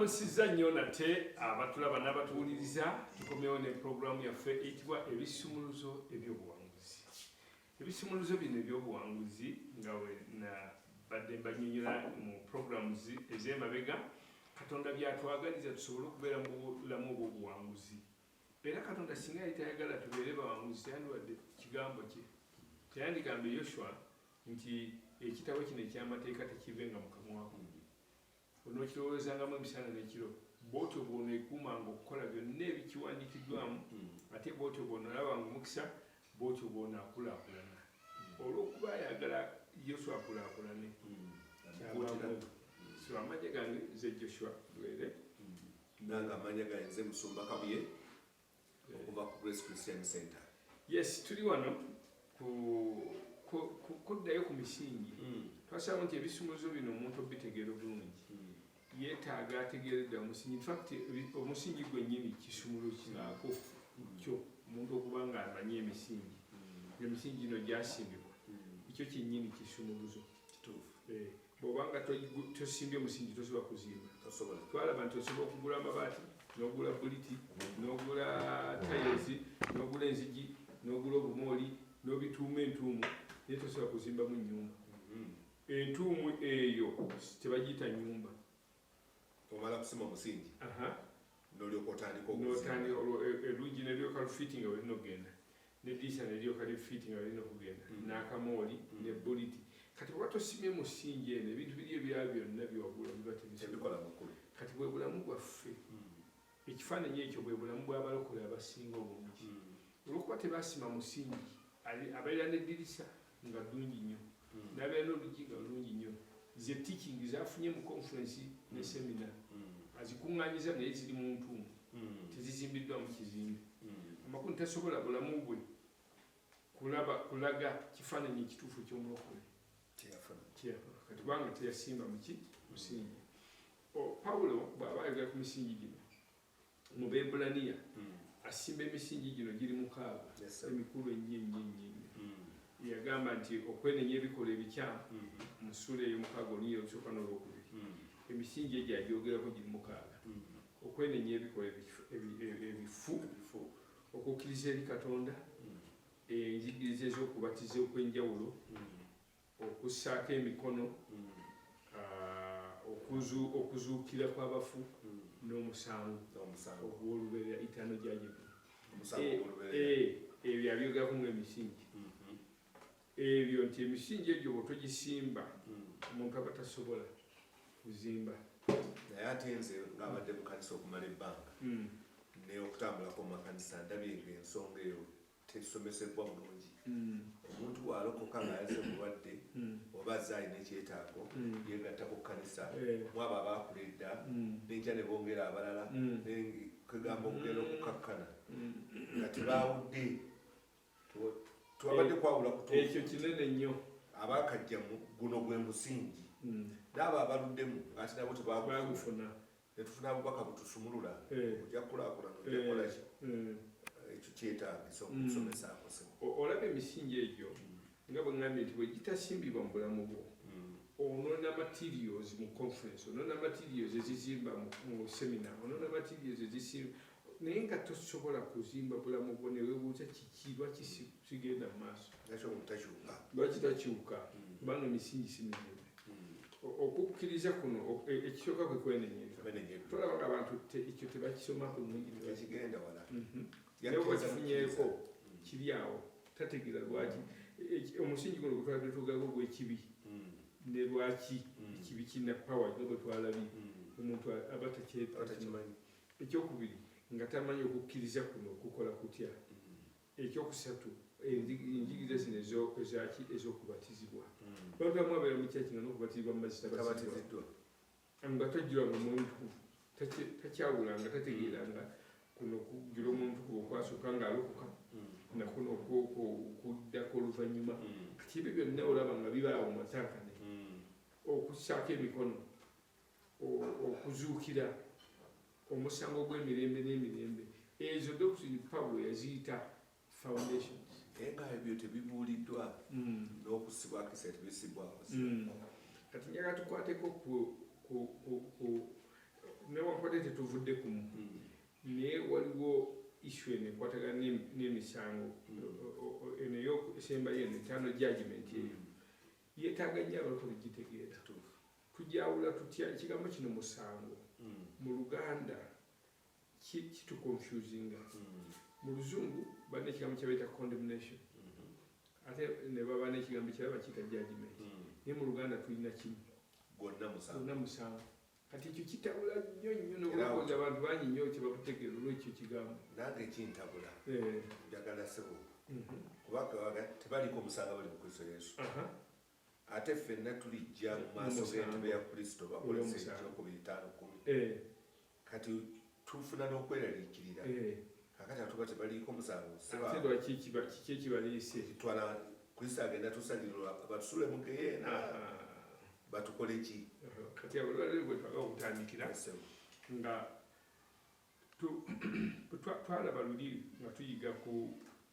tubamusizza nnyo nate abatulaba n'abatuwuliriza tukomewo ne pulogulaamu yaffe eyitibwa ebisumuluzo ebyobuwanguzi ebisumuluzo bino ebyobuwanguzi nga wenabadde mbanyonyola mu pulogulaamu ez'emabega katonda byatwagaliza tusobole okubeera mu bulamu obwobuwanguzi Era Katonda singa yali tayagala tubeere bawanguzi, teyandiwadde kigambo kye. Teyandikambye Yoshua nti ekitabo kino eky'amateeka tekivenga mu kamwa kungi. Onookirowoozangamu emisana n'ekiro, bw'otyo bw'oneekuumanga okukola byonna ebikiwandiikiddwamu, hmm. ate bw'otyo bw'onoolabanga omukisa, bw'otyo bw'onaakulaakulana. Hmm. Olw'okuba ayagala Yoshua akulaakulane, hmm. kyabaamu. So amagye gange nze Joshua Lwere. nange amanya gange nze musumba kabuye okuva ku grace christian center yes tuli wano kuddayo ku misingi hmm. twasalawo nti ebisumuzo bino omuntu obitegeera obulungi hmm. yetaaga ategeeredda omusingi infact omusingi gwennyini kisumulo kinaako hmm. kyo omuntu okuba nga amanyi emisingi emisingi gino gyasimbibwa ekyo kyennyini kisumuluzo eh. bwoba nga tosimbye musingi tosobola kuzimba twalaba nti osobola okugula amabaati nogula buliti nogula tayezi nogula enzigi nogula obumooli nobituuma entuumu naye tosobola kuzimbamu nyumba mm-hmm. entuumu eyo tebagiyita nyumba omala kusima omusingi nolyoka otandika okutandika elungi e, nelyoka lufiti nga welina okugenda nediisa nelyoka lifiti nga welina okugenda mm. n'akamooli mm. ne buliti kati oba tosimye musingi eno ebintu biri ebirala byonna byewagula biba tebikola makulu kati bwe bulamu bwaffe mm. ekifaananyi ekyo bwe bulamu bw'abalokole abasinga obungi olwokuba tebasima musingi abeera nedirisa nga ddungi nnyo hmm. nabeera n'oluggi nga lulungi nnyo ze teaching zafunye mu conference ne hmm. semina hmm. azikuŋŋanyiza naye ziri mu ntuumu tezizimbiddwa mu kizimbe amakulu tasobola bulamu bwe kulaba kulaga kifaananyi ekituufu ky'omulokole kubanga teyasimba muki musingi pawulo bw'aba ayogera ku misingi gino mu Bebbulaniya hmm. asimba emisingi gino giri mukaaga emikulu ennyo ennyo ennyo ennyo hmm. yagamba nti okwenenya ebikolwa ebikyamu hmm. mu ssuula ey'omukaaga olunya olusooka n'olwokubiri emisingi egyo agyogerako giri mukaaga okwenenya ebikolwa ebifu okukkiriza eri katonda enjigiriza ez'okubatiza okw'enjawulo okussaako emikono okuzuukira kw'abafu hmm. n'omusango ogw'olubeerera itaano gyajegu eh, eh, ebyo abyogerako ngaemisingi mm-hmm. ebyo nti emisingi egyo bwotogisimba hmm. omuntu aba tasobola kuzimba naye ate nze ngaabadde mukanisa okumala ebbanga hmm. naye okutambulako mumakanisa ndabye ngaensonga eyo tetusomesebbwa bulungi omuntu bwalokoka nga yaze mulwadde oba azze alina ekyetaago yegatta ku kkanisa mwabo abaakula edda nenkya ne bongera abalala kwegamba okugenda okukakkana nga tebaawudde twabadde kwawula kuekyo kinene nnyo abakajjamu guno gwe musingi naabo abaluddemu ngaati nabo tebagufuna netufuna abubaka butusumulula oja kulakulana oja kolaki ekyo kyetagisa okusomesaako sebo olaba emisingi egyo nga bwengambye nti bwegitasimbibwa mu bulamu bwo onona materials mu conference onona materials ezizimba mu semina onona materials ezisimba naye nga tosobola kuzimba bulamu bwo newebuuza kiki lwaki kigenda mu maaso lwaki takyuka mm. kubanga emisingi si mizimbe mm. okukkiriza kuno e, ekisooka kwe kwenenyereza tolaba nga abantu ekyo tebakisomako nunginebakifunyeko mhm. mm. kiri awo tategeera lwaki e, e, omusingi guno gwetwabadde tugaga ogw'ekibi ne lwaki ekibi kirina pawa nga bwe twalabye omuntu aba takyetakimanyi ekyokubiri nga tamanyi okukkiriza kuno kukola kutya Ekyokusatu, enjigiriza zino ezaki ez'okubatizibwa. Hmm. Abantu bamu abeera mu kyaki nga n'okubatizibwa mu mazzi tabatiziddwa nga tajjulanga mwoyo mutukuvu, takyawulanga, tategeeranga kuno okujjula omwoyo mutukuvu okwasooka ng'alokoka hmm. nakuno okuddako oluvannyuma. Hmm. Kati ebyo byonna olaba nga bibaawo mu matankane okusaako emikono. okuzuukira omusango gw'emirembe n'emirembe ezo doctrine pablo yaziyita foundations naye nga ebyo tebibuuliddwa hmm. n'okusibwako esa tebisibwako hmm. kati njaga tukwateko newankubadde tetuvudde kumu hmm. naye waliwo isu eno ekwatagana n'emisango eno esembayo eno etaano judgment eyo yetaaga nnyo abalokole gitegeera Tugyawula tutya ekigambo kino musango mm. mu Luganda kitu confusinga mm. mu Luzungu balina ekigambo kyebayita condemnation mm -hmm. ate ne baba n'ekigambo ekirala bakiyita judgment mm. naye mu Luganda tulina kimu gwonna musango kati ekyo kitabula nnyo nnyo nokulowoza abantu bangi nnyo kyebakutegeera olwekyo kigambo nange kintabula eh. njagala sebo mhm. kubanga tebaliko omusango bali mu kristo yesu ate ffenna tulijja mu maaso g'entebe ya kristo bakolesa ekyokubiri taano kumi eh. kati tufuna n'okweraliikirira eh. kakati atuba tebaliiko musango sebakikibaliisetwala kristo agenda tusalirwa batusule mu geyeena ah. batukole ki kati abulwaliro gwetwaga okutandikira nga twalaba luli nga tuyiga ku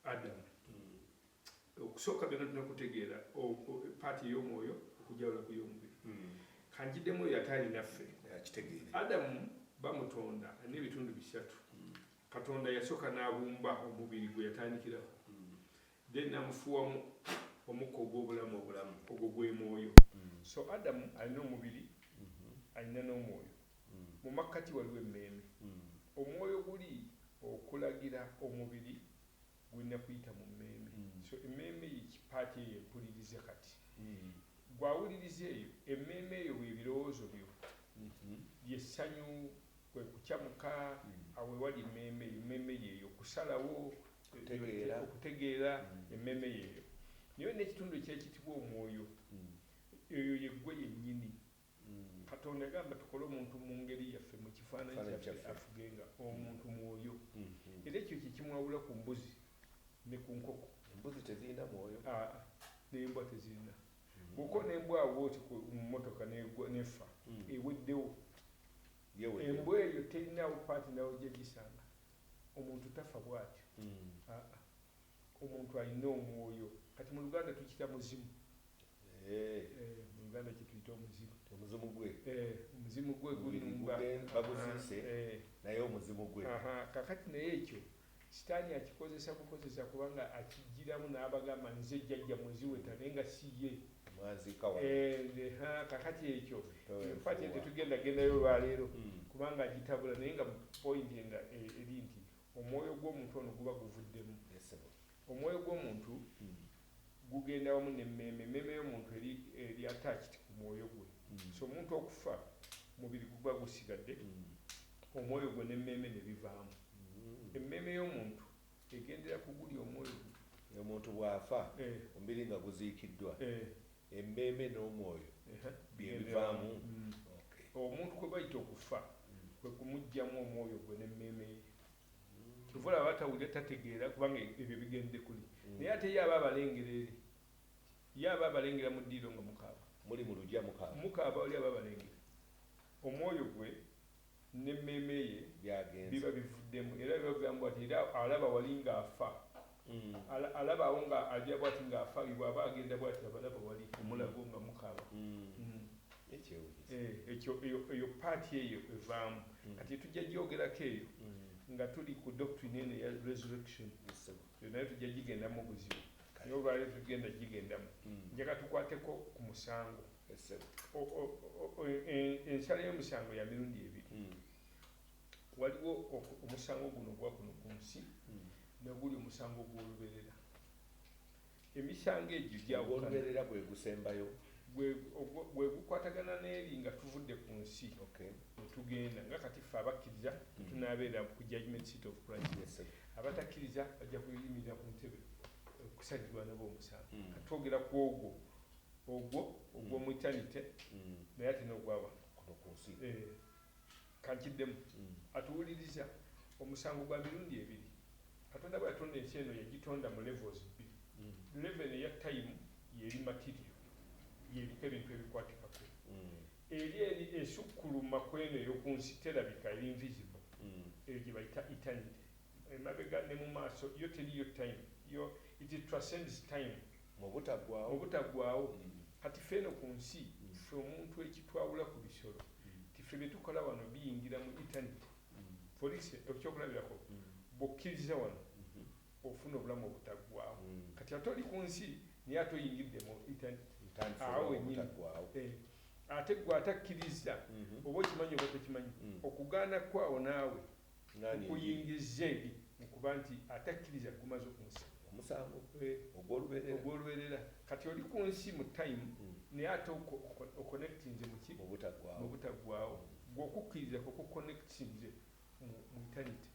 adamu hmm. okusooka byona tulina kutegeera paati ey'omwoyo okujawula ku y'omubiri hmm. kanjidemu oyo ate alinaffe adamu bamutonda alina ebitundu bisatu hmm. katonda yasooka n'abumba omubiri gwe yatandikiraho then namufuwamu omukka ogw'obulamu obulamu ogwo gw'emwoyo mm. so adamu alina omubiri mm-hmm. alina n'omwoyo mm. mu makkati waliwo emmeeme mm. omwoyo guli okulagira omubiri gulina kuyita mu mmeeme so emmeeme eyo kipaati eyo empulirize kati gwawuliriza eyo emmeeme eyo bwebirowoozo byo mm-hmm. lyessanyu kwe kukyamuka awewali mmeeme eyo mmeeme yeeyo kusalawo okutegeera emmeeme yeeyo naye olina ekitundu ekyekitibwa omwoyo hmm. eyo yeggwe yennyini hmm. katonda yagamba tukole omuntu mu ngeri yaffe mu kifaananyi kyaffe afuge nga omuntu mwoyo hmm. era ekyo kyekimwawula ku mbuzi ne ku nkoko embuzi tezirina mwoyo ah, ah. nembwa tezirina bwoka nembwa awooti mu motoka nefa eweddewo embwa eyo terinawo paati nawo gyegisanga Omuntu tafa bwatyo aa omuntu alina omwoyo kati mu luganda tukita muzimu eeh mu luganda kyetuyita omuzimu omuzimu gwe eeh omuzimu gwe gunumba baguziise naye omuzimu gwe ahaa kakati naye ekyo sitani akikozesa bukozesa kubanga akijiramu nabagamba nze jajja mwe ziweta naye nga si ye. kakati ekyo enfaki ente tugenda gendayo olwaleero hmm. kubanga agitabula naye nga point nga e, eri nti omwoyo gw'omuntu ono guba guvuddemu omwoyo gw'omuntu hmm. gugenda wamu nemmeeme emmeeme y'omuntu eri attached ku mwoyo gwe hmm. so omuntu okufa mubiri guba gusigadde omwoyo gwe nemmeeme nebivaamu emmeeme y'omuntu Egendera ku guli omwoyo gwo. Omuntu bw'afa, omubiri nga guziikiddwa, emmeeme n'omwoyo bye bivaamu? Omuntu kwe bayita okufa kwe kumuggyamu omwoyo gwe n'emmeeme ye. Kyova olaba aba tawulira, tategeera kubanga ebyo bigendde kuli. Naye ate ye aba abalengera eri. Ye aba abalengera mu ddiiro nga mukaaba. Muli mu lugya mukaaba. Mukaaba oli aba abalengera. Omwoyo gwe. n'emmeeme ye biba bivuddemu era biba bigamba bwati era alaba wali nga afa ala alaba awo nga aja bwati nga afa ye bwaba agenda bwati abalaba wali ku mulago nga mukaaba ekyewunyisa eh ekyo eyo eyo part eyo evaamu kati tujja gyogerako eyo nga tuli ku doctrine eno eya resurrection eyo nayo tujja gigendamu obuzibu naye olwaleero tetugenda gigendamu njagala tukwateko ku musango. ensala y'omusango ya mirundi ebiri hmm. waliwo omusango guno gwa kuno ku nsi hmm. naguli omusango gw'oluberera emisango egyo gyawoluberera gwe gusembayo gwe gukwatagana n'eri nga tuvudde ku nsi netugenda nga kati ffe abakkiriza hmm. tunabeera ku judgment city of christ abatakkiriza bajja kuyimirira ku ntebe okusajjibwa nabo omusango katwogera ku ogwo Ogwo, ogwo mu eternity naye ate n'ogwa wano. Kuno ku nsi. Eeh. Ka nkiddemu. Atuwuliriza. Omusango gwa mirundi ebiri. Katonda bwe yatonda ensi eno yagitonda mu levels bbiri. Level eno eya time y'eri material, y'eriko ebintu ebikwatikako. Eri eri esukkuluma ku eno ey'oku nsi, terabika, eri invisible. Eyo gye bayita eternity. Emabega ne mu maaso, yo teriiyo time, yo, it transcends time. Mu butaggwaawo. Mu butaggwaawo. Kati ffe eno ku nsi, ffe omuntu ekitwawula ku bisolo, nti ffe bye tukola wano biyingira mu eternity. For instance, eky'okulabirako, bw'okkiriza wano, ofuna obulamu obutaggwaawo. Kati ate oli ku nsi, naye ate oyingidde mu eternity, awo wennyini. Eh, ate ggwe atakkirizza, oba okimanyi oba tokimanyi, okugaana kwo awo naawe, kukuyingizza eri mu kuba nti atakkiriza kugumaza ku musango. Omusango ogw'olubeerera. Ogw'olubeerera. Kati oli ku nsi mu time, naye ate okonectinze mu ki? Mu butaggwaawo. Mu butaggwaawo. Ggwe okukkiriza kwo kukonectinze mu, mu eternity,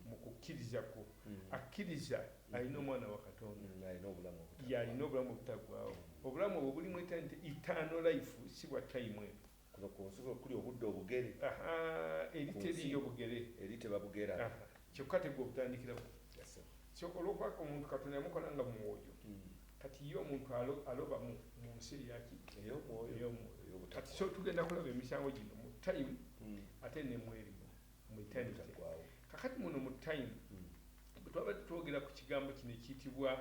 mu kukkiriza kwo. Akkiriza alina Omwana wa Katonda. Y'alina obulamu obutaggwaawo. Y'alina obulamu obutaggwaawo. Obulamu obwo buli mu eternity, eternal life, si bwa time eno. Kuno ku nsi bwe kuli obudde obugere. Ahaa, eri teriiyo bugere. Eri tebabugera. Aha, kyokka ate gwe obutandikira ku. Yes sebo. So olw'okuba omuntu Katonda yamukola nga mwoyo, kati ye omuntu alo, aloba mu, mu nsi eya ki? Ey'omwoyo. Ey'omwoyo. Ey'obuta. Kati so tugenda kulaba emisango gino mu time ate ne mu eri mu, mu eternity. Obutaggwaawo. Kaakati muno mu time, bwe twabadde twogera ku kigambo kino ekiyitibwa,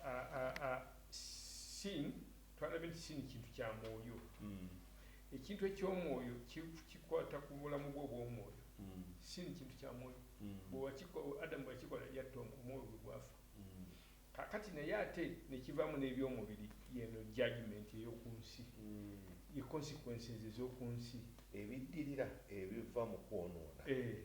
a, a, a, sin, Twalabye nti sin kintu kya mwoyo. Ekintu eky'omwoyo kikwata ku bulamu bwo obw'omwoyo. Sin kintu kya mwoyo. Bwe wakiko, Adamu bwe yakikola, yatta omwo, omwoyo gwe gwafa. Kaakati naye ate ne kivaamu n'eby'omubiri. Y'eno judgement ey'oku nsi. Ye consequences ez'oku nsi. Ebiddirira ebiva mu kwonoona. Eeh.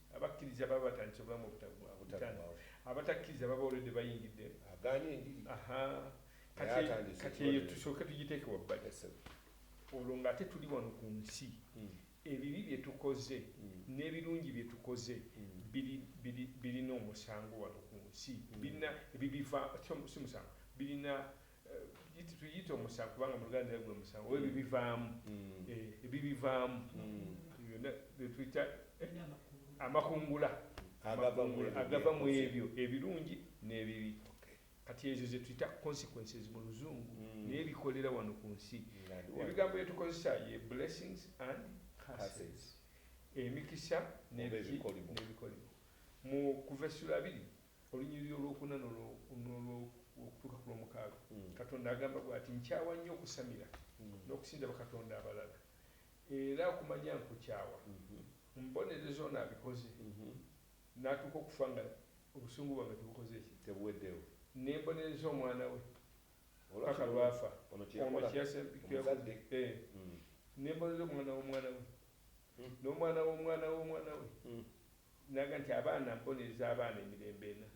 Abakkiriza baba batandise obulamu obutaggwaawo. Abatakkiriza baba already bayingidde. Agaanye enjiri. Aha. Naye atandise. Kati eyo tusooke tugiteeke wabbali. Yes sebo. Olwo nga ate tuli wano ku nsi. Hmm. Ebibi bye tukoze hmm. n'ebirungi bye tukoze hmm. biri biri birina omusango wano ku nsi. Birina ebibiva si musango. Birina tuyite omusango kubanga muluganda era gwe musango oba ebibivaamu mm. eh, ebibivaamu mm. byonna byetuyita eh, amakungula agava mu ebyo ebirungi n'ebibi kati ezo zetuyita consequences mu luzungu mm. naye bikolera wano ku nsi ebigambo byetukozesa ye blessings and curses emikisa n'ebikolimo mu kuva essula abiri Olunyiriri olw'okuna n'olw'okutuuka ku lw'omukaaga, Katonda agamba bw'ati, Nkyawa nnyo okusamira n'okusinza bakatonda abalala, era okumanya nkukyawa. Mbonereza ono abikoze n'atuuka okufa nga obusungu bwange tebukoze ki? Tebuweddewo. Ne mbonereza omwana we mpaka lw'afa. Ono kye yakola, omuzadde. Ne mbonereza omwana w'omwana we, n'omwana w'omwana w'omwana we, Naga nti abaana mbonereza abaana emirembe ena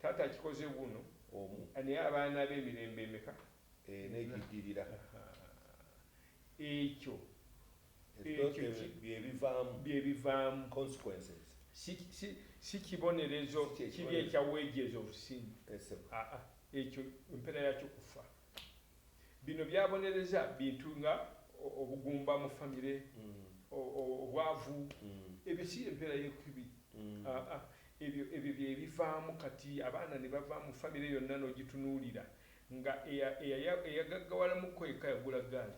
taata akikoze wuuno omu naye abaana be emirembe emeka ena egiddirira ekyo ekyo ki byebivaamu si si si kibonerezo kiri ekya wages of sin aa ekyo empera yakyo kufa. Bino byabonereza bintu nga obugumba mu famire, obwavu, ebyo si y'empeera y'ekibi. Aa, ebyo, ebyo bye bivaamu kati abaana ne bava mu famire yonna n'ogitunuulira nga eya, eya, eyagaggawala mu kko yekka yagula ggaali.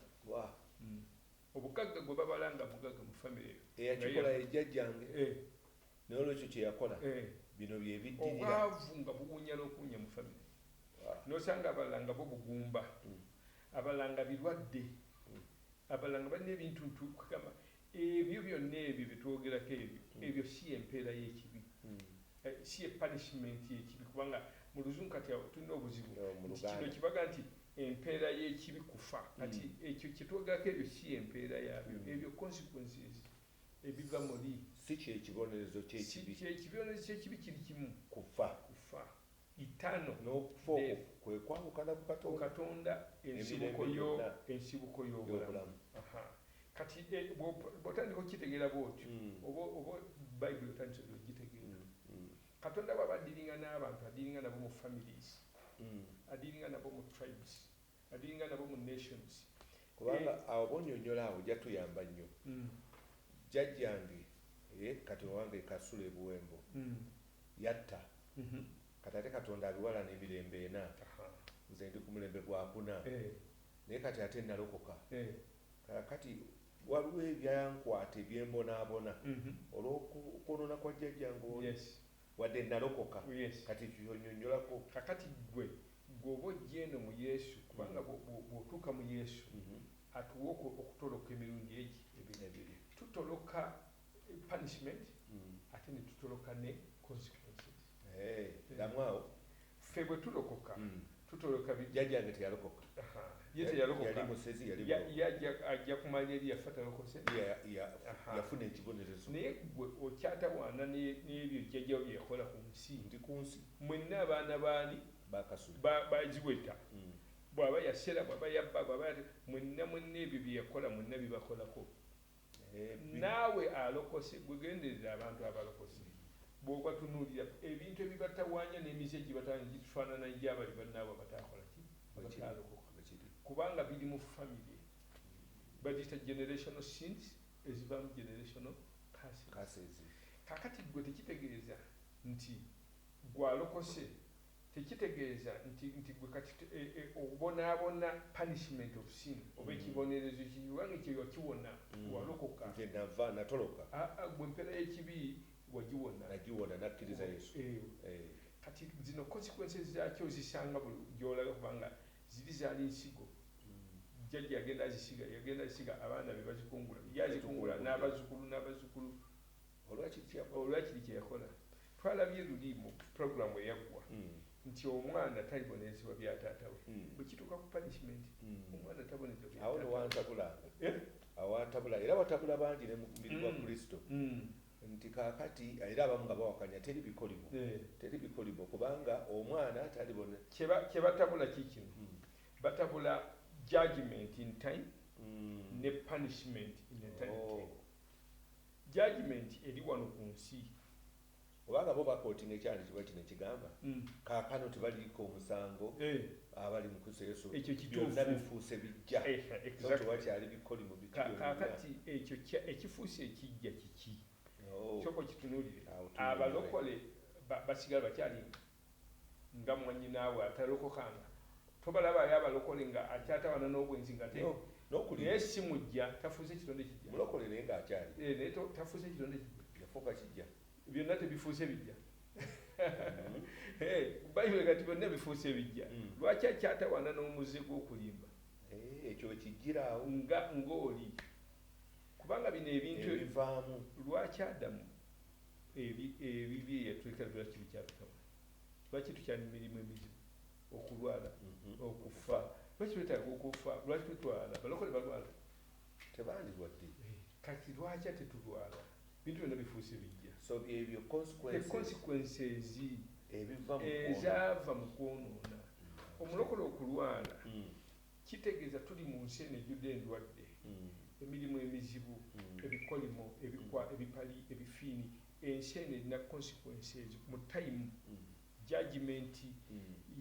Obugagga gwe babala nga mugagga mu famire eyo, nga ye yagula. Eyakikola ye jjajjange. Ee. N'olwekyo kye yakola, Eh. bino bye biddirira. Obwavu nga buwunya n'okuwunya mu famire, Ah. n'osanga abalala nga bo bugumba, abalala nga birwadde, abalala nga balina ebintuntu, kwe gamba, ebyo byonna ebyo bye twogerako ebyo, ebyo si y'empeera y'ekibi. Eh, si ye punishment y'ekibi, kubanga mu Luzungu kati awo tulina obuzibu No, mu nti kino Luganda. kye bagamba nti empeera y'ekibi kufa. Kati ekyo kye twogerako ebyo si y'empeera yaabyo, ebyo consequences. ebiva muli. Si kye kibonerezo ky'ekibi. Si kye kibonerezo ky'ekibi kiri kimu. Kufa. Kufa. Eternal. N'okufa okwo kwe kwawukana ku Katonda. Ku Katonda, ensibuko yo, ensibuko y'obulamu. Aha. Kati e, bw'otandika okukitegeera bw'otyo, oba, oba Bayibuli otandise dda okugitegeera. Katonda bw'aba addiringa n'abantu, addiringa nabo mu families, addiringa nabo mu tribes. Balinga nabo mu nations kubanga eh. Awo bonyonyola awo ojja tuyamba nnyo mm. Jjajjange eh, kati owange Kasula ebuwembo mm. Yatta mm -hmm. Kati ate Katonda abiwalana emirembe ena Aha. Nze ndi ku mulembe gwakuna eh. Naye kati ate nalokoka eh. Kati waliwo ebyankwata ebyembonaabona mm -hmm. olwokwonona kwa jjajjange oli yes. Wadde nalokoka yes. Kati kyonyonyolako kakati gwe Ggwe oba ojja eno mu Yesu, kubanga bw'otuuka mu Yesu, atuwa okutoloka emirundi egi ebiri. Tutoloka punishment ate ne tutoloka ne consequences. Eeh, ddamu awo. Ffe bwe tulokoka, tutoloka biki? Jjajjange teyalokoka. Aha. Ye teyalokoka. Yali musezi, yali mulogo. Ye ajja ku maanyi eri yafa talokose? Ya, ya, yafuna ekibonerezo. Naye ggwe okyatawaana n'ebyo jjajjawo bye yakola ku nsi. Ndi ku nsi. Mwenna abaana b'ani? Ba Kasule. Ba, ba Ziweta. Bw'aba yasera, bw'aba yabba, bw'aba yata, mwenna, mwenna ebyo bye yakola mwenna bibakolako. Naawe alokose, ggwe genderera abantu abalokose. Bw'obatunuulira, ebintu ebibatawaanya n'emize egibatawaanya gitufaanana egya bali bannaabwe abataakola ki? Abataalokoka. Bwe kiri. Kubanga biri mu famire. Baziyita generational sins, ezivaamu generational curses. Curses. Kaakati ggwe tekitegeeza. Nti ggwe alokose tekitegeeza nti nti ggwe kati e, e, obonaabona punishment of sin oba mm. ekibonerezo ki kubanga ekyo wakiwona mm. walokoka nze nava natoloka a, a, gwe empera y'ekibi wagiwona nagiwona nakkiriza yesu e, e. kati zino consequences zakyo zisanga buli gyolabe kubanga ziri zaali nsigo jjajja yagenda azisiga yagenda azisiga abaana be bazikungula ye azikungula n'abazukulu n'abazukulu Olwa kiri kye yakola. Olwa kiri kye yakola. Twalabye luli mu pulogulaamu eyaggwa nti omwana talibonezebwa bya taata we. Bwe kituuka ku punishment, omwana tabonezebwa bya taata we. Awo no wantabulanga. Awo wantabula era watabula bangi ne mu mubiri gwa Kristo nti kaakati, era abamu nga bawakanya, teri bikoligo. Teri bikoligo kubanga omwana talibone. Kye batabula kiikino, batabula judgement in time ne punishment in eternity. Oh. Judgement eri wano ku nsi. Oba nga bo bakotinga ekyandikibwa kino ekigamba, Kaakano tebaliiko musango abali mu Kristo Yesu, byonna bifuuse biggya. So tewakyali bikolimo bikolimo byonna. Kaakati, ekyo kya, ekifuuse ekiggya kiki? Kyoka okitunuulire. Abalokole ba, basigala bakyali nga. nga mwanyinaawe atalokokanga tobalabaayo abalokole nga akyatawana nobwenzi ngate no, no kuli naye si mujja tafuuse kitonde kijja mulokole naye nga akyali eh, naye tafuuse kitonde kijja yafuuka kijja byonna tebifuuse bijja mm-hmm. eh, bayibuli kati byonna bifuuse bijja mm. lwaki akyatawana n'omuze gw'okulimba eh, ekyo ekijjiraawo nga ng'oli kubanga bino ebintu ebivaamu lwaki adamu ebibye eyatulekera byola kibikyabitawa lwaki tukyali mumirimu emizibu okulwala mhm. okufa lwaki twetaaga okufa lwaki tetwala balokole balwala tebandilwadde eh, kati lwaki ate tulwala bintu byona bifuuse bijja so byebyo consequences ezaava mu kwonoona omulokole okulwala mm. Kitegeeza tuli mu nsi eno ejjudde endwadde, emirimu emizibu, ebikolimo, ebikwa, ebipali, ebifiini. Ensi eno erina consequence ezo mu time, judgement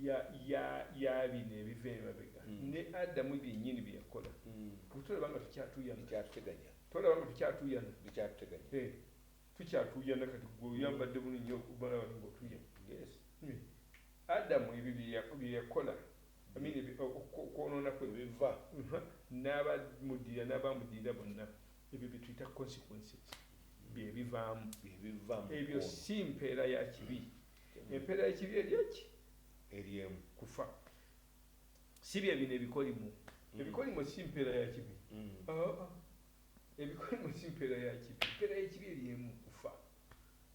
ya, ya, ya bino ebiva emabega. Ne Adamu byennyini bye yakola. Gwe tolaba nga tukyatuuyana? Bikyatuteganya. Tolaba nga tukyatuuyana? Bikyatuteganya. Eh, tukyatuuyana kati. Gwe oyambadde bulungi nnyo, obalaba nga otuuyana. Yes. Adamu ebyo bye, bye yakola. Okwonoona kwe biva, n'abamuddirira n'abaamuddirira bonna, ebyo bye tuyita consequences, bye bivaamu. Ebyo si mpeera ya kibi. Empeera y'ekibi eri ki? Eri emu. Kufa. Si bye bino ebikolimo. Ebikolimo si mpeera ya kibi. Ebikolimo si mpeera ya kibi. Empeera y'ekibi eri emu, kufa.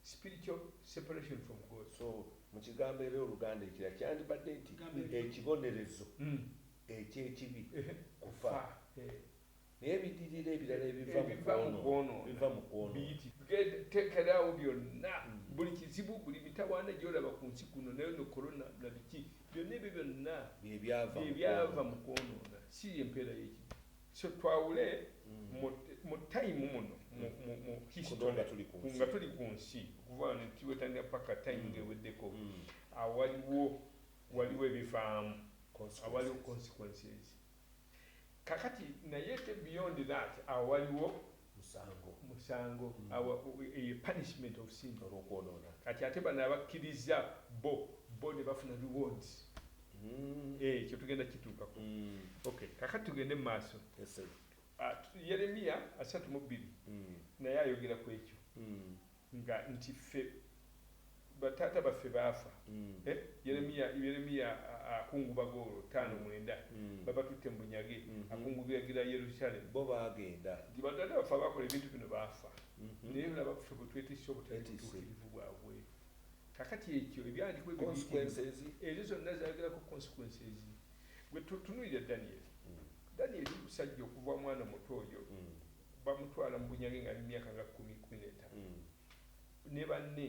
spiritual separation from God. So mu kigambo era Oluganda ekira kyandibadde nti ekibonerezo mm. eky'ekibi kufa eh. naye ebidirira ebirala ebiva mu kwonoona biva mu kwonoonabiteekerawo byonna mm. buli kizibu buli mitawaana gyolaba ku nsi kuno nayo no korona na biki byonna ebyo byonna byebyava mu kwonoona si empeera y'ekibi So twawule mu mu time muno mu mu mu history nga tuli ku nsi okuva wano tiwetanira paka time nga eweddeko awaliwo waliwo ebivaamu awaliwo consequences kakati naye ate beyond that awaliwo musango musango mm. awa eye punishment of sin olwokwonona kati ate bano abakkiriza bo bo ne bafuna rewards mm. eh, ekyo tugenda kituukako mm. okay kakati tugende mu maaso yes, uh, yeremiya asatu mu bbiri mm. naye ayogera ku ekyo mm. nga nti ffe ba taata baffe baafa eh, Yeremiya Yeremiya akungubaga olwo ttaano mwenda babatutte mu bunyage akungubagira Yerusalem. Bo baagenda. Nti ba taata baffe abaakola ebintu bino baafa, naye laba ffe bwe twetisse obutali butuukirivu bwabwe. Kaakati ekyo, Ebyandikwa ebyo biyitirira. Ezo zonna zaayogerako consequences. Ggwe tu, tunuulira Danyeri. Danyeri musajja okuva, omwana omuto oyo. Bamutwala mu bunyage ng'ali mu myaka nga kkumi, kkumi n'etaano ne banne.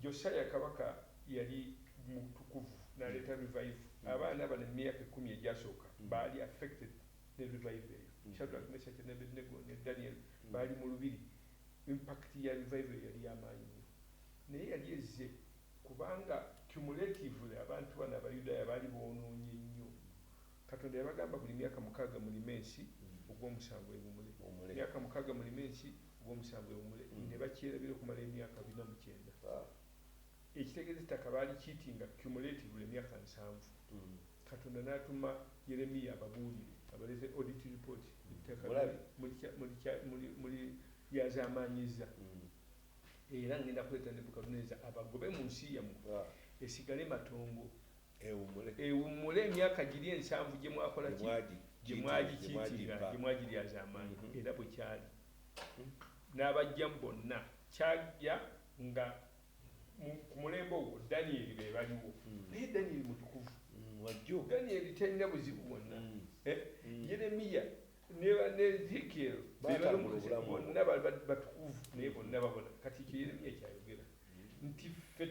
Josiah Kabaka yali mutukuvu n'aleeta revival. Abaana bano mu myaka ekkumi egyasooka baali affected ne revival eyo. Shadrach, Meshach and Abednego ne Daniel baali mu lubiri. Impact ya revival eyo yali ya maanyi nnyo. Naye yali ezze kubanga cumulatively abantu bano Abayudaaya baali boonoonye nnyo. Katonda yabagamba buli myaka mukaaga mulime ensi, ogw'omusanvu ewumule. Myaka mukaaga mulime ensi, ogw'omusanvu ewumule. Ne bakyerabira okumala emyaka bina mu kyenda. Ekitegeeza ettaka baalikiitinga cumulatively emyaka nsanvu. Katonda n'atuma Yeremiya ababuulire, abaleete audit report, ettaka muliryazaamaanyizza, era ŋŋenda kuleeta Nebukadduneeza abagobe mu nsi yammwe, esigale matongo. ewummule emyaka giri ensanvu gye mwakola ki gye mwagikiikirira gye mwagiryazamaanyi mm-hmm. era bwe kyali mm-hmm. n'abajjamu bonna kyajja nga ku mulembe ogwo danyeri be baliwo mm. naye danyeri mutukuvu mm, danyeri talina buzibu bwonna mm. eh? yeremiya ne ezekiel bonna batukuvu naye bonna babona kati ekyo yeremiya kyayogera nti ffe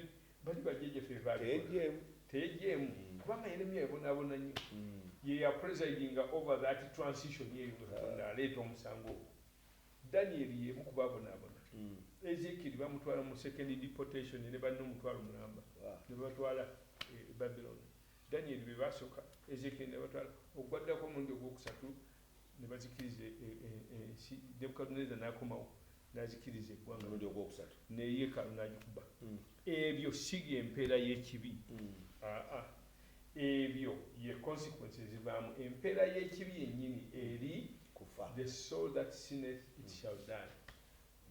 Bali bajjajja ffe bebaalikola. Teyejeemu kubanga Yeremiya yabonaabona nnyo. Ye ya presidinga over that transition eyo nga Katonda aleeta omusango ogwo. Danieri y'emu ku baabonaabona. Ezekieri baamutwala mu second deportation ne banne omutwalo mulamba ne babatwala e Babiloni. Danieri be baasooka, Ezekieri ne babatwala. Ogwaddako omulundi ogwokusatu ne bazikiriza e, e, e, ensi nebukaduneza n'akomawo n'azikiriza eggwanga omulundi ogwokusatu ne yeekaalu n'agikuba mm. ebyo si y'empeera y'ekibi mm. aa ebyo ye consequence ezivaamu empeera y'ekibi yennyini eri kufa the soul that sinneth it mm. shall die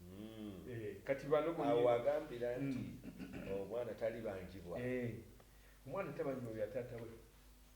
mm. eh, kati bano awo agambira nti mm. omwana talibangibwa eh, omwana tabanjibwa bya taata we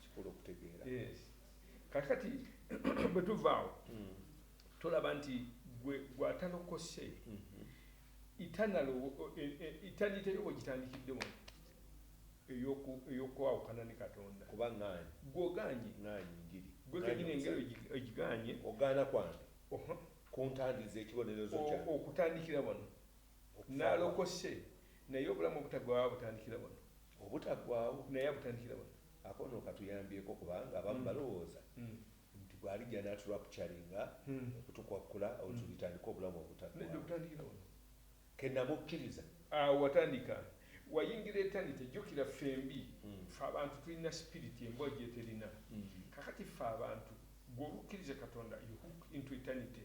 kikulu okutegeera kakati bwe tuvaawo hmm. tolaba nti gwe gwatalokose itanite yo wegitandikidde wano eyokwawukana ne katonda kuba ŋaanyi gwogaanyi ŋaanyi njiri gwe kenyini engeri ogigaanye ogaana kwange kuntandiza ekibonerezo kya okutandikira wano nalokose naye obulamu obutagwawo butandikira wano obutaggwaawo naye abutandikira wano akono katuyambyeko kubanga abamu hmm. balowooza hmm. nti bwalijja n'aturapcaringa hmm. okutukwakkula otubitandika obulamu obutaggwaawo kenamukkiriza awo watandika wayingira etanite jjukira ffembi fe abantu tulina sipiriti embwa gyeterina kakati fe abantu gweobukkiriza katonda you hook into eternity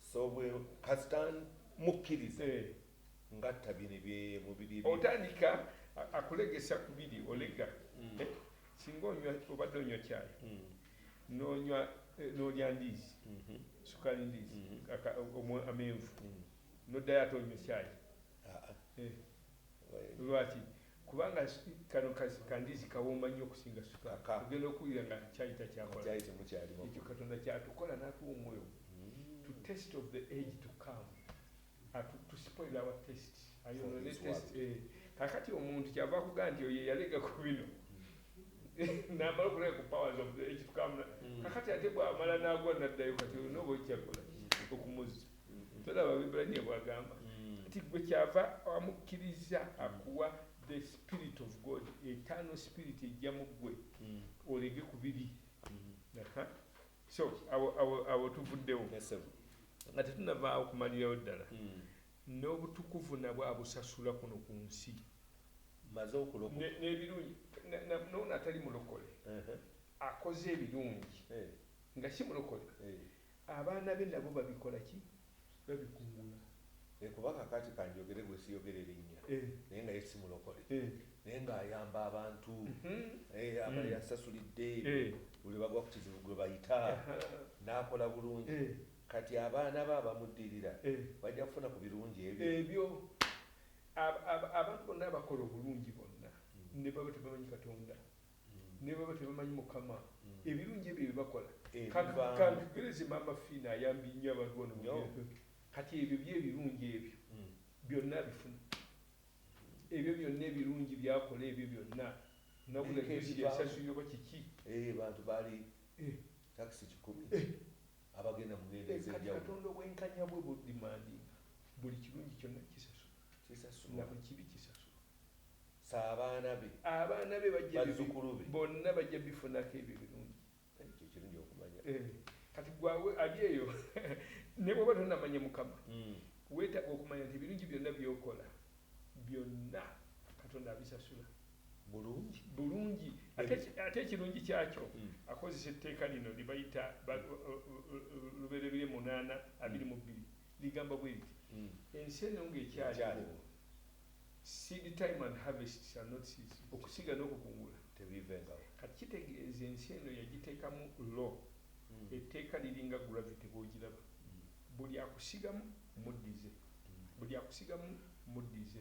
so bwe kasita mukkiriza eh. ngatta bino bye mubiri otandika akulegesa ku biri olega mm. eh, singa onywa obadde onywa kyayi mm. nonywa eh, nolya ndiizi mm-hmm. sukali ndiizi mm-hmm. amenvu mm. noddayo ate onywa kyayi ah, ah. Lwaki? Kubanga kano ka ndiizi kawooma nnyo okusinga sukaali. Ogenda okuwulira nga caayi takyakola. Ekyo Katonda ky'atukola n'atuwa omwoyo gwe. To taste of the age to come. Atu, to spoil our taste. Ayonoone taste. Eh. Kakati omuntu kyava akugamba nti oyo eyalega ku bino. N'amala okulaba ku powers of the age to come. Mm. Kakati ate bw'amala n'agwa n'addayo kati olina oba okyakola okumuzza. tolaba bibulaniya bwagamba mm. nti gwe kyava amukkiriza mm. akuwa the spirit of god etano spirit ejja mu gwe mm. olege ku bibi so abo tuvuddewo nga tetunavaawo kumalirawo ddala n'obutukuvu nabwo abusasula kuno ku nsi maze okulokoka n'ebirungi noona atali mulokole akoze ebirungi eh. nga si mulokole eh. Abaana be nabo babikola ki? Babikungula. Naye kuba kakati kanjogere gwe siyogere linnya naye nga ye si mulokole naye nga ayamba abantu aba yasasulidde buli lwe bagwa ku kizibu gwe bayita n'akola bulungi kati abaana be abamuddirira bajja kufuna ku birungi ebyo. Ebyo abantu bonna abakola obulungi bonna ne baba tebamanyi Katonda nebaba tebamanyi mukama ebirungi ebyo byebakola kantugereze maama Fina ayambye nnyo abantu bano mugendo kati ebyo byo ebirungi ebyo byonna abifuna ebyo byonna ebirungi byakola ebyo byonna nabula juzi yasasulira oba kiki bantu bali takisi kikumi abagenda mugendo ezekati katonda obwenkanya bwe budimandinga buli kirungi kyonna kisasula nabukibi kisasula Sa abaana be, abaana be bajja bi, bazzukulu be. bonna bajja bifunako ebyo ebirungi. Ekyo kye kirungi okumanya. Eh, Kati gwe awo- ali eyo, ne bw'oba tonnamanya Mukama, Mm. weetaaga okumanya nti ebirungi byonna by'okola, byonna Katonda abisasula. Bulungi. bulungi ate Bebe. ki- ate ekirungi kyakyo Mm. akozesa etteeka lino lye bayita ba- o- o- o- lubereberye munaana abiri mu bbiri ligamba bwe liti Mm. ensi eno ng'ekyaliwo Ekyaliwo. Seed time and harvest shall not cease, okusiga n'okukungula tebiivengawo. Kati kitegeeza ensi eno yagiteekamu law, etteeka liringa gravity bw'ogiraba, buli akusigamu muddize, buli akusigamu muddize.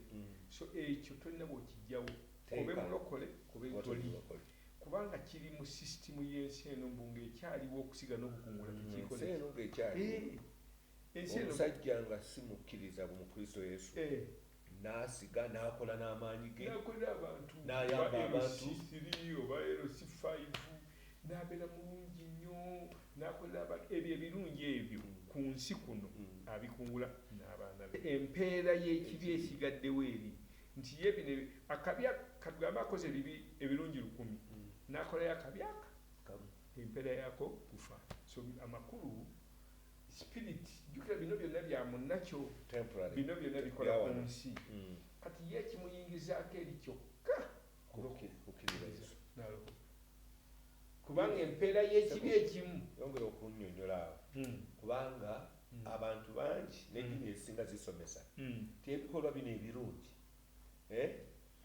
So ekyo tolina bw'okiggyawo, obe Mulokole obe toli, kubanga kiri mu system y'ensi eno mbu ng'ekyaliwo okusiga n'okukungula tekyikola ekyo. Eeh! omusajja nga si mukkiriza mu Kristo Yesu eh. n'asiga n'akola n'amaanyi ge n'ayamba abantu n'abeera mulungi nnyo n'akolera abantu ebyo ebirungi ebyo mm. ku nsi kuno mm. abikungula n'abaana be empeera y'ekibi esigaddewo eri nti ye bino akabi katugambe akoze ebibi ebirungi lukumi mm. n'akolayo akabi aka empeera yaako kufa so amakulu spirit jukira bino byonna bya munnakyo bino byonna bikola ku nsi mm. kati ye ekimuyingizaako eri kyokka kubanga empeera y'ekibi ekimu yongera okunyonyola awo hmm. kubanga hmm. abantu bangi n'eddiini hmm. ezisinga zisomesa ti ebikolwa bino ebirungi eh?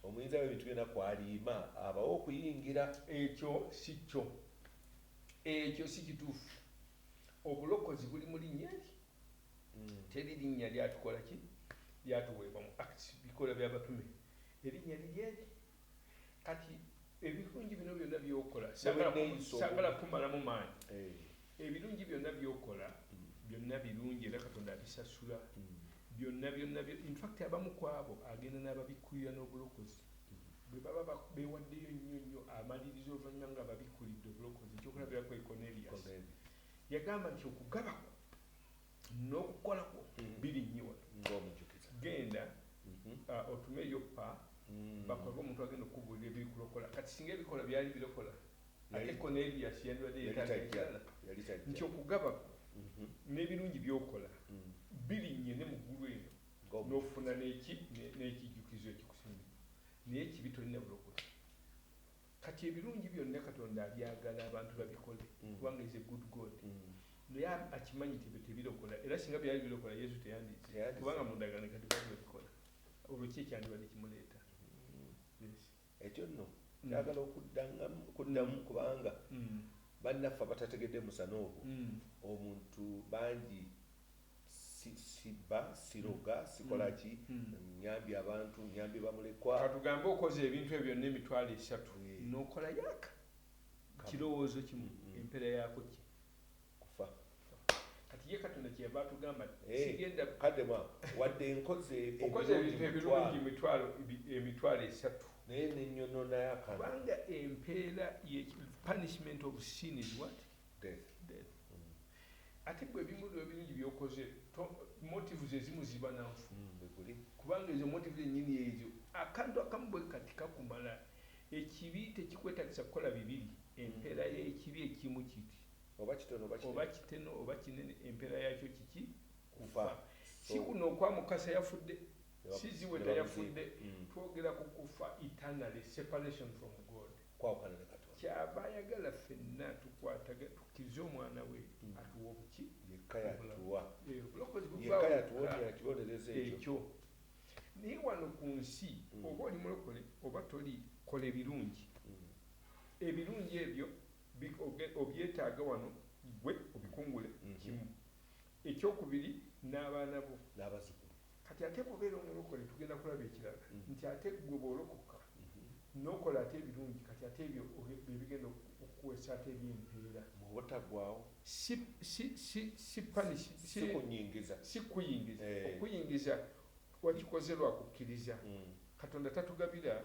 omuyinza webintu byona kwaliima abawo okuyingira ekyo si kyo ekyo si kituufu Obulokozi buli mu linnya eryo. Teri linnya lyatukola ki? Lyatuweebwa mu Acts, Bikolwa bya Batume. Erinnya liri eri. Kati ebirungi bino byonna byokola sagala kumalamu maanyi. Eh. Ebirungi byonna byokola mm. byonna birungi era Katonda abisasula mm. byonna byonna. In fact abamu kwabo agenda n'ababikkulira n'obulokozi. Mm. Bwe baba ba, beewaddeyo nnyo nnyo, amaliriza oluvannyuma nga ababikkulidde obulokozi. Eky'okulabirako ye Cornelius. Yagamba nti, Okugaba kwo n'okukola kwo birinnyiwa. Nga omujukiza. Genda, uh, otume e Yoppa, bakoleko omuntu agenda okukubuulira ebirikulokola. Kati, singa ebikolwa byali birokola, ate Cornelius yandibadde yeetaaga ekirala. Yali tajja. Nti, Okugaba kwo n'ebirungi by'okola birinnye ne mu ggulu eno. n'ofuna n'ekijjukizo ekikusinga naye ekibi tolina bulokozi kati ebirungi byonna katonda abyagala abantu babikole mm. kubanga is a good god mm. naye akimanyi tebe tebirokola era singa byali birokola yesu teyandize kubanga mundagaano kati babikola olwo ki ekyandibadde kimuleeta mm. ekyo nno mm. kyagala okuddamu mm. kubanga mm. bannaffe abatategedde musana ogwo omuntu bangi sibba siroga sikolaki nyambye abantu nyambye bamulekwa katugambe okoze ebintu ebyo byonna emitwalo esatu nokola yaka kirowoozo kimu empeera yako ki Kufa. Kati ye Katonda kye yava atugamba nti, Hey, Sigenda. kadde mwa, wadde nkoze Okoze ebirungi ebintu ebirungi mitwalo. emitwalo ebi, emitwalo esatu. Naye ne nnyonoona akana. Kubanga empeera y'eki, punishment of sin is what? Death. Death. Ate ggwe ebimu lwe ebirungi by'okoze, to, motives ezimu ziba na nfu. Mm, bwe guli. Kubanga ezo motives ennyini ezo, akantu akamu bwe kati kakumala. Ekibi tekikwetaagisa kukola bibiri. Empeera y'ekibi ekimu kiti. oba kitono oba kinene, oba kiteno oba kinene empeera yaakyo kiki? Kufa. Kufa. So, Si kuno okwa Mukasa yafudde, ne si bamu- Ziweta ne bamuziika. yafudde. Mm. Twogera ku kufa eternally, separation from God. Kwawukana ne Katonda. Ky'ava ayagala ffenna tukwataga, tukkirize Omwana we atuwe obuki? Yekka Obulamu. yatuwa. Eh, Obulokozi buva Yekka wokka. yatuwonya ekibonerezo ekyo. Ekyo. Naye wano ku nsi, Mm. oba oli mulokole oba toli, kola ebirungi. Mm. Ebirungi ebyo Bi, oge, obyetaaga wano, ggwe obikungule kimu. Eky'okubiri, n'abaana bo. N'abazzukulu. Kati ate bw'obeera Omulokole, tugenda kulaba ekirala, nti ate ggwe bw'olokoka, n'okola ate ebirungi, kati ate ebyo oge, bye bigenda oku, okukuweesa ate eby'empeera. Mu Obutaggwaawo. Si, si, si, si punish, si, Si kunnyingiza. si kukuyingiza. Eeh. Okukuyingiza, wakikoze lwa kukkiriza. Katonda tatugabira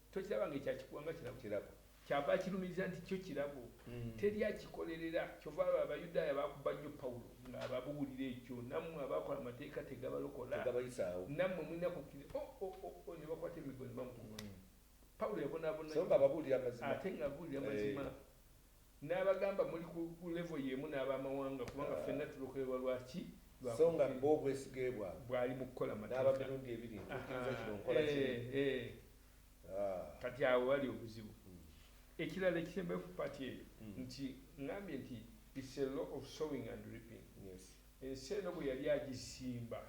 Tokiraba nga ekya kikuwa nga kirabo? Kirabo. Kyava akirumiriza nti kyo kirabo. Teri akikolerera. Kyova olaba Abayudaaya baakubba nnyo Pawulo nga ababuulira ekyo, Nammwe abaakola amateeka tegabalokola? Tegabayisaawo. Nammwe mulina kukkiriza. O, o, o, o, ne bakwata emiggo ne bamukuba. Pawulo yabonaabona nnyo. So nga ababuulira mazima. Ate nga abuulira mazima. Eeh. N'abagamba, Muli ku, ku level y'emu n'ab'amawanga, kubanga ffenna tulokolerwa. Lwaki? Lwa So nga bo kukkiriza. obwesigee bwabwe Bwali mu kukola n'aba mateeka. mirundi ebiri, ntuukiriza kino, Ahaa. nkola kiri. Eh, eh. Ah. Kati awo wali obuzibu. Ekirala ekisembayo ku part eyo, nti, ŋŋambye nti, It's a law of sowing and reaping. Yes. Ensi eno bwe yali agisimba,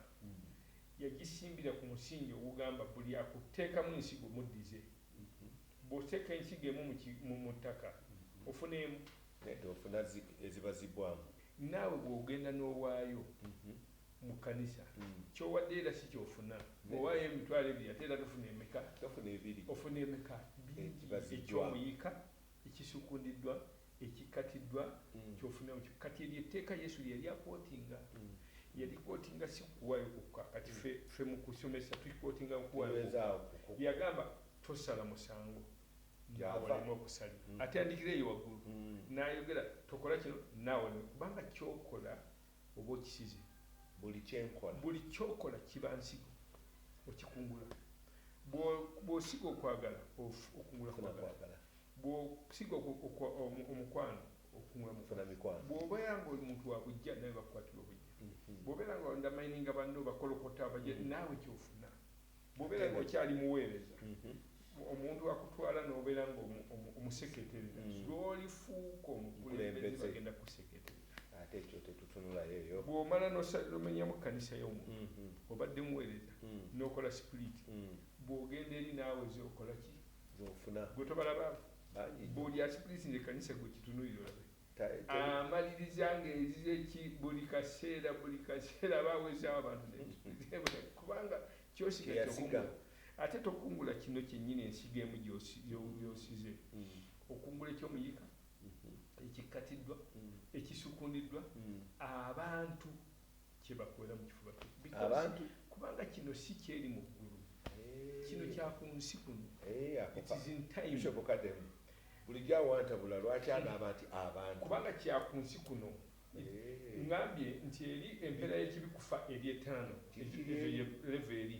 yagisimbira ku musingi ogugamba, Buli akutteekamu ensigo, muddize. Bw'oteeka ensigo emu mu ki, mu, mu ttaka, ofuna emu. Naye tofuna zi, eziba ziggwaamu. Naawe bw'ogenda n'owaayo mu kkanisa, ky'owaddeyo era si ky'ofuna. Bw'owaayo emitwalo ebiri, ate era tofuna emeka? Tofuna ebiri. Ofuna emeka? Bingi. Eziba ziggwaamu. Eky'omuyiika ekisukundiddwa. Ekikkatiddwa ky'ofunira mu kik. Kati eryo etteeka Yesu lye yali akwotinga. Yalikwotinga si kuwaayo kwokka. Kati ffe, ffe mu kusomesa tukikwotinga mu kuwaayo kwokka. Yagamba, Tosala musango nga walema okusalira. Atandikira eyo waggulu, n'ayogera, Tokola kino, na walema, kubanga ky'okola oba okisize. Buli kye nkola. Buli ky'okola kiba nsigo, okikungula. Bw'o, bw'osiga okwagala, of, okungula kwagala. Bw'osiga omukwano okumufuna mikwano. Bw'obeera nga oli muntu wa buggya naawe bakukwatira obuggya. Bw'obeera nga wandamayininga banno obakolokota obagye naawe ky'ofuna. Bw'obeera nga okyali muweereza omuntu akutwala n'obeera nga omuseketerera. Lw'olifuuka omukulembeze bagenda kukuseketerera. Ate ekyo tetutunulayo eyo. Bw'omala n'omenyamu kkanisa y'omuntu obadde muweereza n'okola sipuliti bw'ogenda eri naawe oze okola ki? zofuna gwe tobalaba buli asipulisinga ekanisa gwe kitunulira olabe amaliriza ah, ngaerizeki buli kaseera buli kaseera abawezaawo abantu kubanga kyosiga ate tokungula kino kyenyini ensiga emu gyosize mm. okungula ekyomuyiika mm-hmm. ekikkatiddwa mm. ekisukundiddwa mm. abantu kyebakola mu kifuba kyo abantu kubanga kino si kyeri mu ggulu eh. kino kya ku nsi kuno eh, itisintaimushobokademu bulijjo awantabula lwaki agamba nti abantu kubanga kya ku nsi kuno eh. ngambye nti eri empeera y'ekibi kufa eri etaano leva eri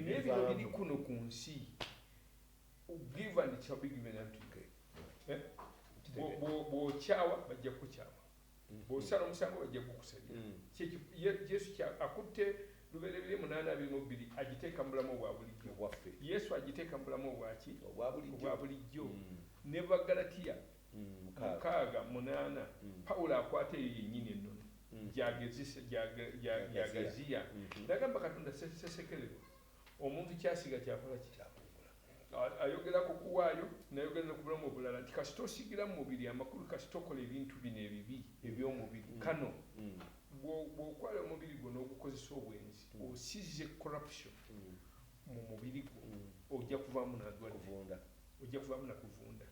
nebino biri kuno ku nsi give and it shall be given unto you bw'okyawa bajja kukyawa Bw'osala omusango bajja kugukusabira. Mm. Kye ki- ye- Yesu kya- akutte lubereberye munaana abiri mu bbiri agiteeka mu bulamu obwa bulijjo. Obwaffe. Yesu agiteeka mu bulamu obwaki? Obwa bulijjo. Obwa bulijjo. Mm. Ne mu Baggalatiya Mm, mukaaga. mukaaga munaana Mm. Pawulo akwata eyo yennyini ennono Mm. gyagezisa gyaga- gya- Gyagaziya. gyagaziya Mhm. n'agamba Katonda se- sesekererwa omuntu kyasiga kyakola ki? Ayogera ku kuwaayo, n'ayogera ne ku bulamu obulala nti kasita osiigira mu mubiri amakulu, kasita okola ebintu bino ebibi eby'omubiri, kano bw'okwala omubiri gwo n'ogukozesa obwenzi, osize corruption mu mubiri gwo, ojja kuvaamu na ndwadde, ojja kuvaamu na kuvunda.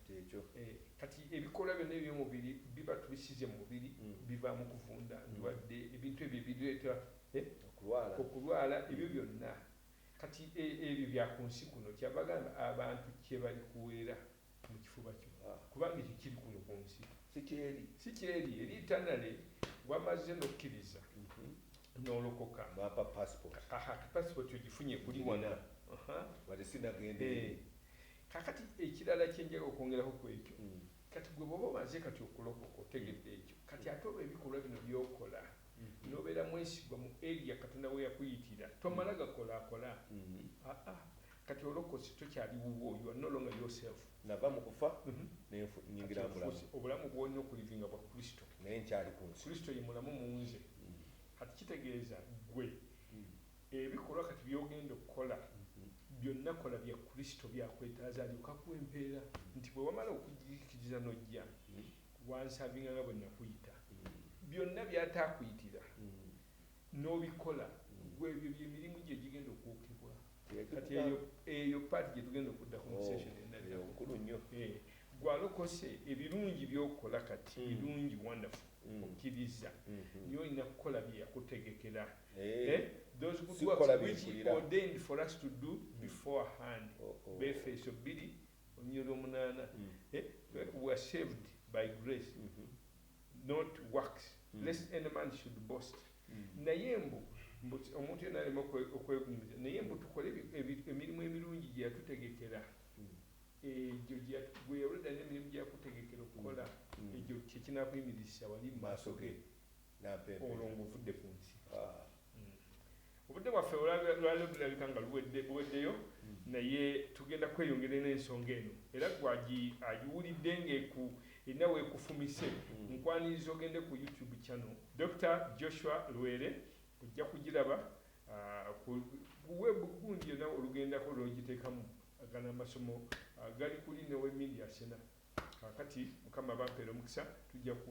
Kati ebikolwa byonna eby'omubiri biba tubisize mu mubiri, bivaamu kuvunda, ndwadde, ebintu ebyo ebireeta okulwala, ebyo byonna Kati e, ebyo bya ku nsi kuno. Kyava agamba abantu kye balikuweera mu kifuba kyo, kubanga ekyo kiri kuno ku nsi, si ky'eri, si ky'eri, eri eternally. Wamazze n'okkiriza mm-hmm. n'olokoka, bampa passport. Aha, passport ogifunye kuli wano, wali sinagenda eh. eri. Kakati ekirala kye njaga okwongeraho ku ekyo, mm. kati gwe bw'oba omaze kati okulokoka otegedde ekyo, kati ate olw'ebikolwa bino by'okola nobera mwesigwa mu area katonda weyakuyitira tomala gakola kola haa kati olokose tokyali wuwo your no longer your self nava mu kufa kati nfuuse obulamu bwolina okulivinga bwa kristo naye nkyali kunsi kristo ye mulamu munze kati kitegeeza gwe ebikolwa kati byogenda okukola byonna kola bya kristo byakwetaaza alyoke akuwe empeera nti bwewamala okujjikiriza nojja Wansavinga nga bwe nakuyita. Byonna by'ataakuyitira n'obikola, ggwe ebyo bye mirimu gyo egigenda okwokebwa. Kati eyo, eyo part gye tugenda okuddako mu session oh, enaddako. Nkulu nnyo. Eh, ggwe alokose, ebirungi by'okola kati mm. birungi, wonderful, mm. okkiriza. Mm-hmm. Naye olina kukola bye yakutegekera. Eh. Eh, those good works which he ordained for us to do mm. beforehand. Oh, oh. Befeeso bbiri Olunyiriri lw'omunaana, eh, we were saved by grace not works lest any man should boast. Naye mbu mbu omuntu yenna aleme okwe- okwegumiza, naye mbu tukole ebi- ebi- emirimu emirungi gye yatutegekera egyo gye yatu- gwe yawulira n'emirimu gye yakutegekera okukola egyo kye kinaakuyimirizisa wali mu maaso ge. Olwo ng'ovudde ku nsi. Obudde bwaffe olwaleero lulabika nga buweddeyo naye tugenda kweyongera n'ensonga eno era gwe agiwulidde ng'eku erina w'ekufumise nkwaniriza ogende ku YouTube channel Dokita Joshua Lwere ojja kugiraba ku web gundi yonna olugendako lw'ogiteekamu gano amasomo gali kuli ne we Media Cena. kakati mukama bampera omukisa tujja ku